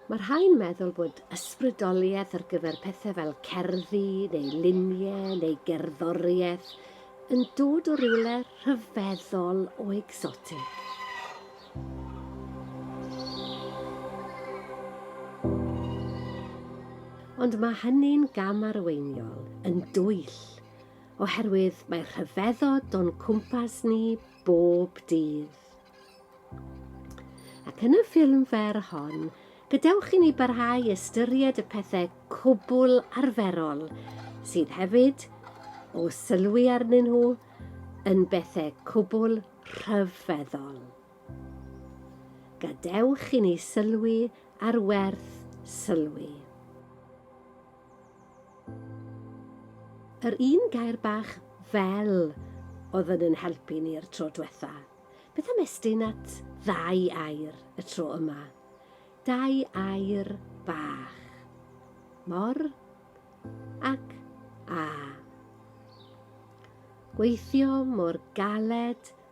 Mae rhai'n meddwl bod ysbrydoliaeth ar gyfer pethau fel cerddi neu luniau neu gerddoriaeth yn dod o rywle rhyfeddol o egsotig. Ond mae hynny'n gam arweiniol yn dwyll, oherwydd mae rhyfeddod o'n cwmpas ni bob dydd. Ac yn y ffilm fer hon, gadewch i ni barhau ystyried y pethau cwbl arferol sydd hefyd, o sylwi arnyn nhw, yn bethau cwbl rhyfeddol. Gadewch i ni sylwi ar werth sylwi. Yr un gair bach 'fel' oedd yn yn helpu ni yr tro dwetha. Beth am estyn at ddau air y tro yma? Dau air bach. Mor ac a. Gweithio mor galed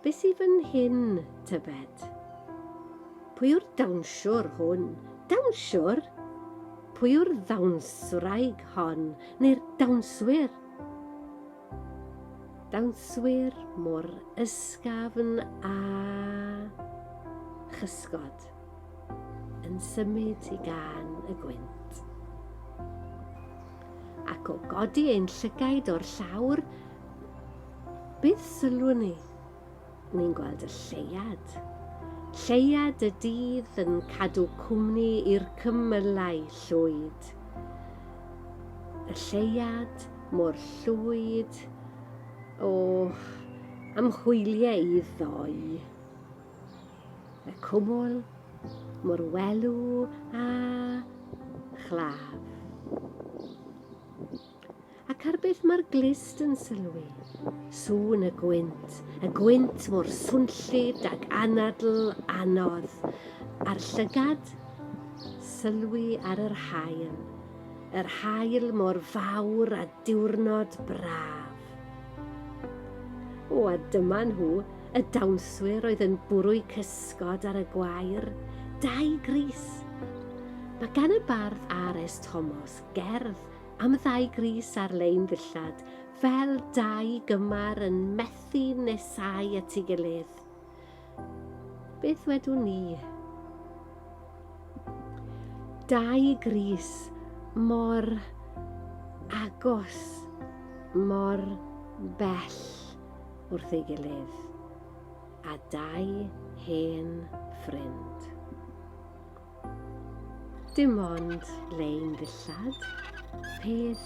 Be sy fan hyn, tybed? Pwy yw'r dawnsiwr hwn? Dawnsiwr? Pwy yw'r ddawnswraig hon, neu'r dawnswyr? Dawnswyr mor ysgafn a chysgod yn symud i gan y gwynt. Ac o godi ein llygaid o'r llawr, Beth sylwn ni? Ni'n gweld y lleuad. Lleuad y dydd yn cadw cwmni i'r cymylau llwyd. Y lleuad mor llwyd, o, am hwyliau i ddoi. Y cwmwl mor welw a chlaf. Ac ar beth mae'r glust yn sylwi? Sŵn y gwynt, y gwynt mor swnllyd ac anadl anodd, a'r llygad? Sylwi ar yr haul, yr haul mor fawr a diwrnod braf. O, a dyma nhw, y dawnswyr oedd yn bwrw'u cysgod ar y gwair, dau gris. Mae gan y bardd R.S. Thomas gerdd am ddau grys ar-lein ddillad, fel dau gymar yn methu nesau at ei gilydd. Beth wedwn ni? Dau grys mor agos, mor bell wrth ei gilydd, a dau hen ffrind. Dim ond lein ddillad, peth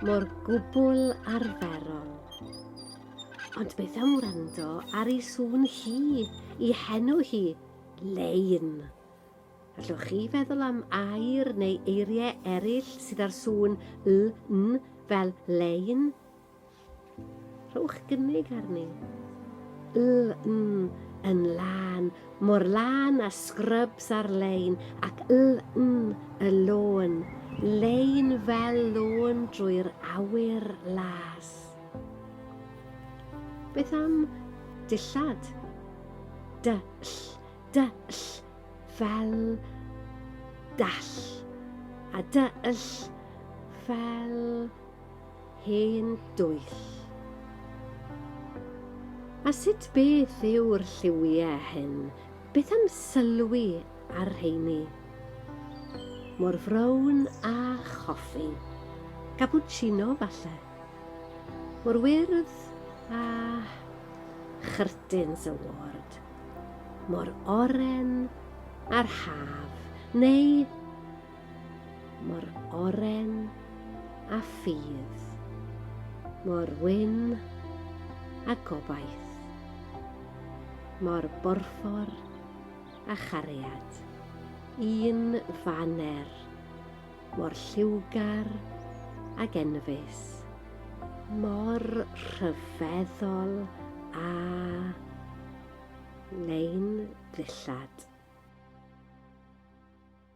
mor gwbl arferol. Ond beth am wrando ar ei sŵn hi, i henw hi, lein? Allwch chi feddwl am air neu eiriau eraill sydd â'r sŵn l, n fel lein? Rhowch gynnig arni. LN yn lân, mor lân a scrubs ar-lein ac LN y lôn, lein fel lôn drwy'r awyr las. Beth am dillad? Dyll, dyll, fel dall, a dyll fel Hen dwyll. A sut beth yw'r lliwie hyn? Beth am sylwi ar rheini? Mor frown â choffi. Gapuchino, falle. Mor wyrdd â chyrtins y ward. Mor oren â'r haf. Neu Mor oren a ffydd. Mor wyn a gobaith. Mor borffor a chariad. Un faner. Mor lliwgar ag enfys. Mor rhyfeddol a lein ddillad.